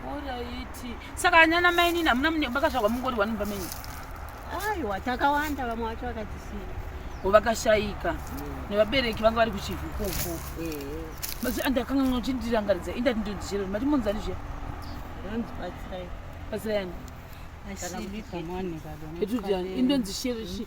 Alright. Saka anyana mai nini hamuna mune makazvarwa mungori wani mumba menyu? Aiwa takawanda vamwe vacho vakatisiya. Ko vakashaika mm. nevabereki vanga vari kuchivhu ikoko. Eh. Masi andakanga ngochindirangaridza indati ndondichero mati munzani zviya. Ndonzi batsirai. Batsirai yani. Asi ndipamani baba. Etu jani indonzi sherishi.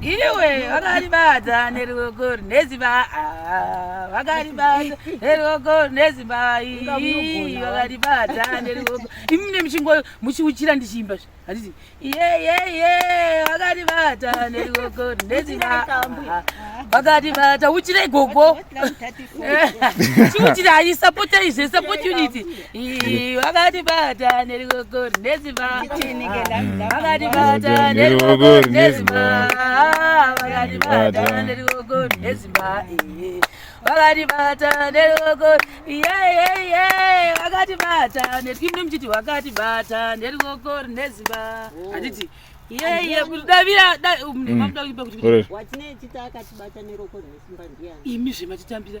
iwe vakaribata neruoko neziba vakaribata neruoko neziba vakaribata neruoko imi ne muchingo muchiuchira ndichiimba zve handiti iyeyeye vakaribata neruoko neziba vakaribata uchirei gogo chiuchirai support izve support unity vakatibata nerikoko rinoziva vakatibata nerikoko rinoziva vakatibata nerikoko rinoziva vakatibata nerikoko yeyeye vakatibata netkimni muchiti wakatibata nerikoko rinoziva handiti yeye kuti davira mamuda kuipa kuti imi zvematitambira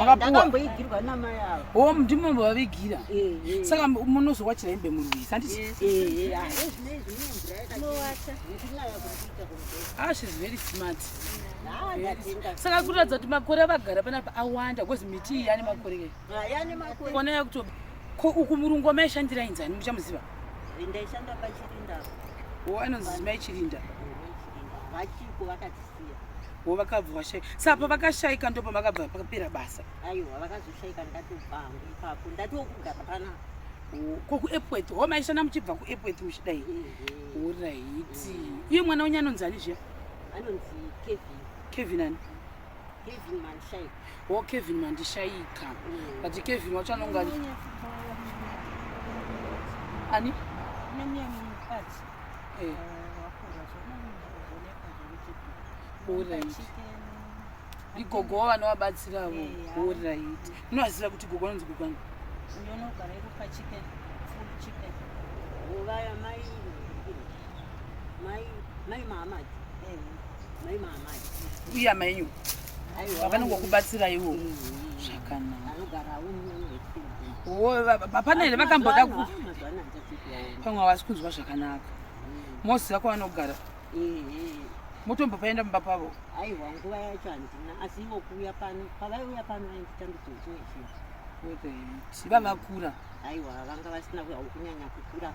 makapuwaamboigirwa namai avo o oh, ndimo mbovavigira eh, eh. saka munozowachira hembe murwisi handiti eh, ah, ah, shes very smart saka kuratidza kuti makore avagara panapa awanda bcause miti iyi yane makore kona ah, yakuto ko uku murungu wamaishandira inzani muchamuziva ndaishanda pachirinda o oh, anonzi mai chirinda vachiko vakati wo vakabva vashaika sa pavakashaika ndo pavakabva pakapera basa aiwa vakazoshaika ndatobva hangu ipapo ndati wokugara pana ko kuepworth ho maishanda muchibva kuepworth muchidai oraiti mm. iye mwana wenyu anonzi ani zviya anonzi kevin kevin ani kevin mandishaika ho kevin mandishaika mm. but kevin wacho anonga ani eh. igogo wo vanovabatsiravo orit unovaziva kuti gogo anonzi gogani uya mainyu vakanongokubatsiraiwo zvakanakapana here vakamboda pamwe havasi kunzwa zvakanaka moziva kwavanogara motombopaenda mumba pavo aiwa nguva yacho handina asi ivo kuuya pano pavaiuya pano vainditambidzochii vavakura aiwa vanga vasina kunyanya kukura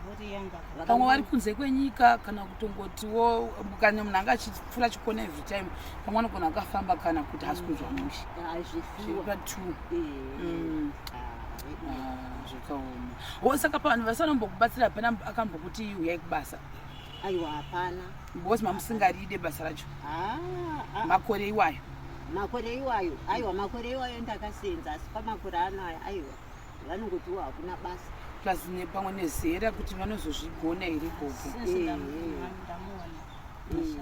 pamwe vari kunze kwenyika kana kutongotiwo kana munhu anga achipfura chikona every time pamwe anogona akafamba kana kuti hasi kunzwa mushe zviripa two zvakaoma wo saka pavanhu vasanombokubatsira hapana akambokuti uyai kubasa aiwa hapana because mamusingaride basa racho ah, ah. makore iwayo makore iwayo aiwa makore iwayo ndakasenza asi pamakore ano aya aiwa vanongotiwo hakuna basa plus nepamwe nezera kuti vanozozvigona here gogo eh, eh.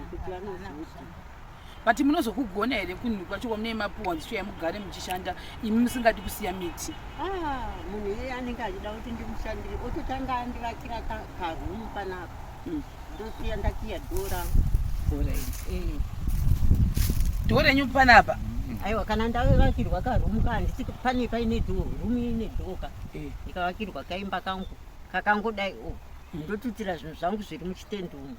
kuti vanozozvigona but munozokugona here kunhu kwacho kwamune mapuwa dzichouya mugare muchishanda imi musingadi kusiya miti ah, munhu iyeye anenge achida kuti ndimushandire ototanga andivakira karumu panapa hmm. ndosiya ndakiya dora dora eh. dora enyu panapa hmm. aiwa kana ndavakirwa karumu ka handisi pane paine do rumu ine doka eh. ndikavakirwa kaimba kangu kakangodai o oh, hmm. ndotutira zvinhu zvangu zviri muchitendumu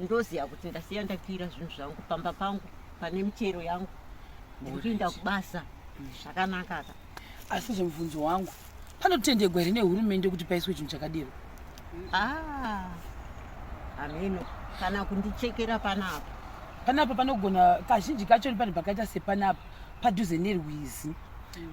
ndoziva kuti ndasiya ndakwira zvinhu zvangu pamba pangu pane michero yangu ndiri kuenda kubasa zvakanaka ka asi zvemubvunzo wangu panotendegwa here nehurumende kuti paiswe chinhu chakadiro ah, hameno kana kundichekera panapa panapa panogona kazhinji kacho ni panhu pakaita sepanapa padhuze nerwizi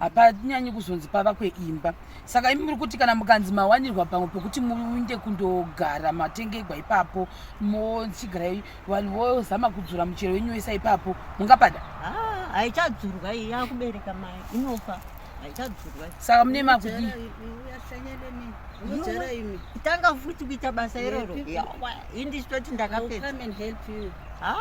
hapanyanyi kuzonzi pava kweimba saka imi muri kuti kana mukanzi mawanirwa pamwe pekuti muinde kundogara matengegwa ipapo mochigara vanhu vozama kudzura muchero wenyu wese ipapo mungapada ah, haichadzurwa iyi yakubereka mai inofa haichadzurwa saka mune makudii tanga futi kuita basa iroro indisitoti ndakapedza ah,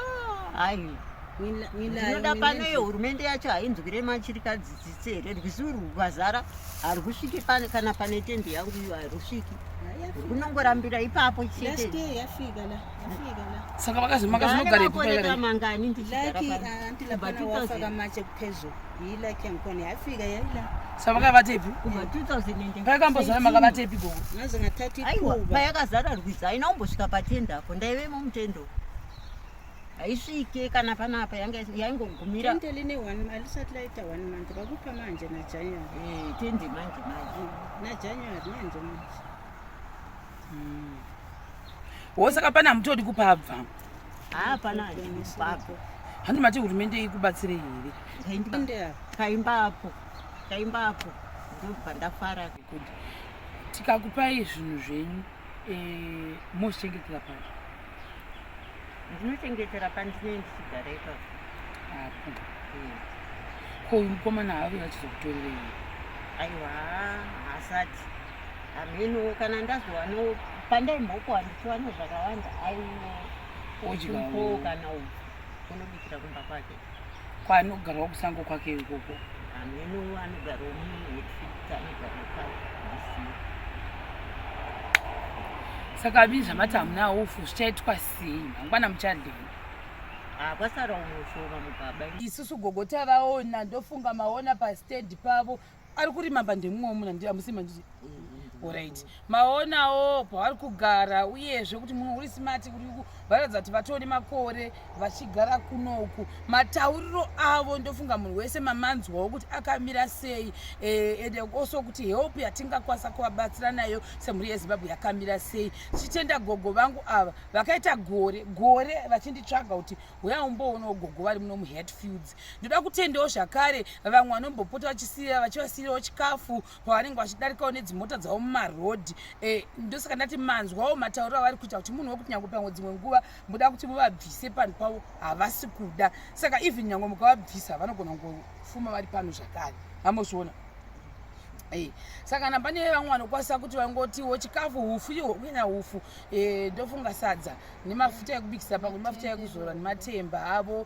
ndinoda pano iyo hurumende yacho hainzwire machirikadzi tsitsi here rwizi urwu rwazara harwusviki kana pane tende yangu iyo harwusviki rwunongorambira ipapo chetesaka vakazimakazinogaraeaa mangani ndichiaasaka vakavatepi kubva 2000 paikambozara makavatepi gogo aiwa payakazara rwizi haina kumbosvika patende apo ndaivemo mutendo haisvike kana panapa yaingogumira tende line one alisati laita one month vakupa manje najanuary eh, tende manje manje mm, najanuary manje manje mm. wo saka pane hamutodi kupabva hapana kupabva handi mati hurumende ikubatsire here kaimba apo kaimba apo ndobva ndafara kuti tikakupai zvinhu zvenyu eh, mochichengetera pazvo ndinochengetera pandinei ndichigara ipapo apo ko uyu mukomana haave vachizokutorerei aiwa hasati hameno kana ndazowano pandaimbokuwa ndichiwana zvakawanda aiwo odyawo kana uku unobikira kumba kwake Kwanogarwa kusango kwake ikoko. Ameno anogarwa munhu wekufuta anogarwa paDC. Saka vii zvamati hamuna ufu zvichaitwa sei mangwana muchadei? Ah, kwasara unoshoma mubaba. Isusu gogo tavaona ndofunga maona pastand pavo. ari kurima pa ndemumwe womuna ndi amusi manjiti orit maonawo pavari kugara uyezve kuti munhu uri smati kuri varatidza kuti vatone makore vachigara kunoku matauriro avo ndofunga munhu wese mamanzwawo kuti akamira sei eh, and also kuti help yatingakwanisa kuvabatsira nayo semhuri yezimbabwe yakamira sei tichitenda gogo vangu ava vakaita gore gore vachinditsvaga kuti huya umboonawo gogo vari muno muhatfields ndoda kutendawo zvakare vamwe vanombopota vachisiya vachivasiirawo chikafu pavanenge vachidarikawo nedzimota dzavo mumarodhi e, ndosaka ndati manzwawo matauriro avari kuita kuti munhu wekuti nyange pamwe dzimwe nguva muda kuti muvabvise panhu pavo havasi kuda saka even nyange mukavabvisa vanogona kungofuma vari pano zvakare hamozviona Hey. saka kana pane vamwe vanokwanisa kuti vangotiwo chikafu hufu iho kunyanya hufu e, ndofunga sadza nemafuta ekubikisa pamwe nemafuta ekuzora nematemba avo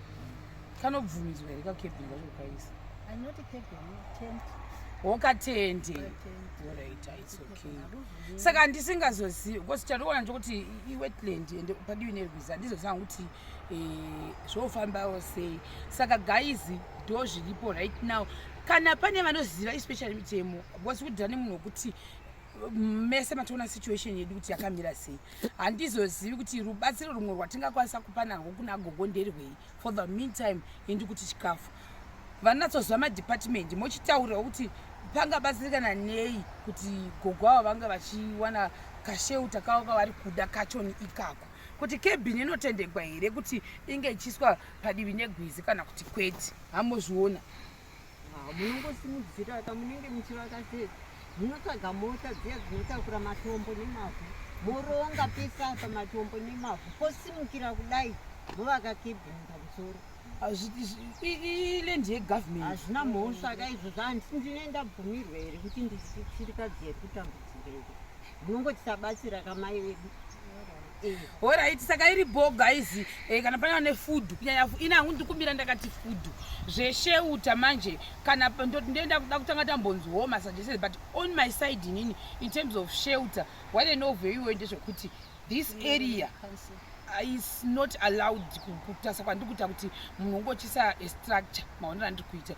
kanobvumidzwa here kakebhini kacho kukaisa wokatende oraita its okay saka handisingazozivi because chatoona ndokuti iwetland and padivi nerwizi handizozanga kuti eh, zvofambawo sei saka gaizi ndo zviripo right now kana pane vanoziva especially mitemo because kudhira nemunhu wekuti mese matoona situation yedu kuti yakamira sei handizozivi kuti rubatsiro rumwe rwatingakwanisa kupa narwo kuna gogo nderwei for the meantime indi kuti chikafu vanatsoziva madepartment mochitaurira kuti pangabatsirikana nei kuti gogo avo vanga vachiwana kasheuta kavo kavari kuda kachoni ikako kuti kebhini inotendegwa here kuti inge ichiiswa padivi negwizi kana kuti kwete hamozviona Ah, munongosimudzira ka munenge muchivaka sei munotsvaga mota dziya dzinotakura matombo nemavhu moronga pese apa matombo nemavhu posimukira kudai vovaka kebhini pamusoro ilendi yegovernment hazvina mhosva ka izvozvo handisi ndine ndabvumirwa here kuti ndisirikadzi yekutambudzirei munongotisabatsira kamai vedu Eh. Alright, saka iri bho guys, eh, kana pane vane food kunyanya ina hangu ndikumbira ndakati food zvesheuta manje kana ndoti ndoenda kuda kutanga tambonzi wo masuggestions but on my side inini in terms of shelter what I know very well ndezvekuti this area is not allowed kutasa kwandiri kuita kuti munhu ungochisa structure maonera andiri kuita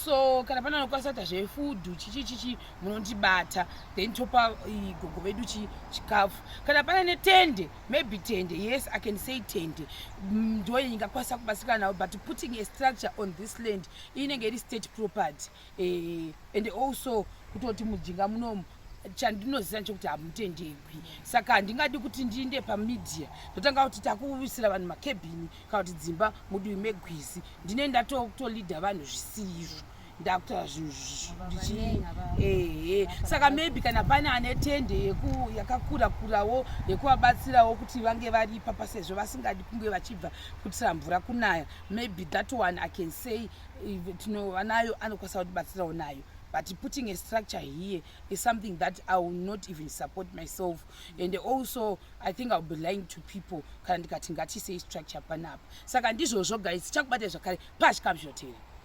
so kana pane anokwanisa kuita zvefood chichi chichi munondibata then topa gogo vedu chikafu kana pane netende maybe tende yes i can say tende mm, ndo ingakwanisa kubatsirikana navo but putting a structure on this land inenge iri state property eh, and also kutoti mujinga munomu chandinoziva nechekuti hamutendegwi saka handingadi kuti ndiinde pamedia ndotanga kuti takuwisira vanhu makebhini kana kuti dzimba mudiwi megwizi ndine ndatoleader vanhu zvisiizvo ndakutora zvinhu zvichii ehe saka maybe kana pane ane tende yakakura kurawo yekuvabatsirawo kuti vange vari ipapa sezvo vasingadi kunge vachibva kutira mvura kunaya maybe that one i can say tinova nayo anokwanisa kutibatsirawo nayo but putting a structure here is something that i will not even support myself and also i think iwill be lying to people kana ndikati ngatisei structure panapa saka ndizvozvo guys chakubatai zvakare pazvikamshotera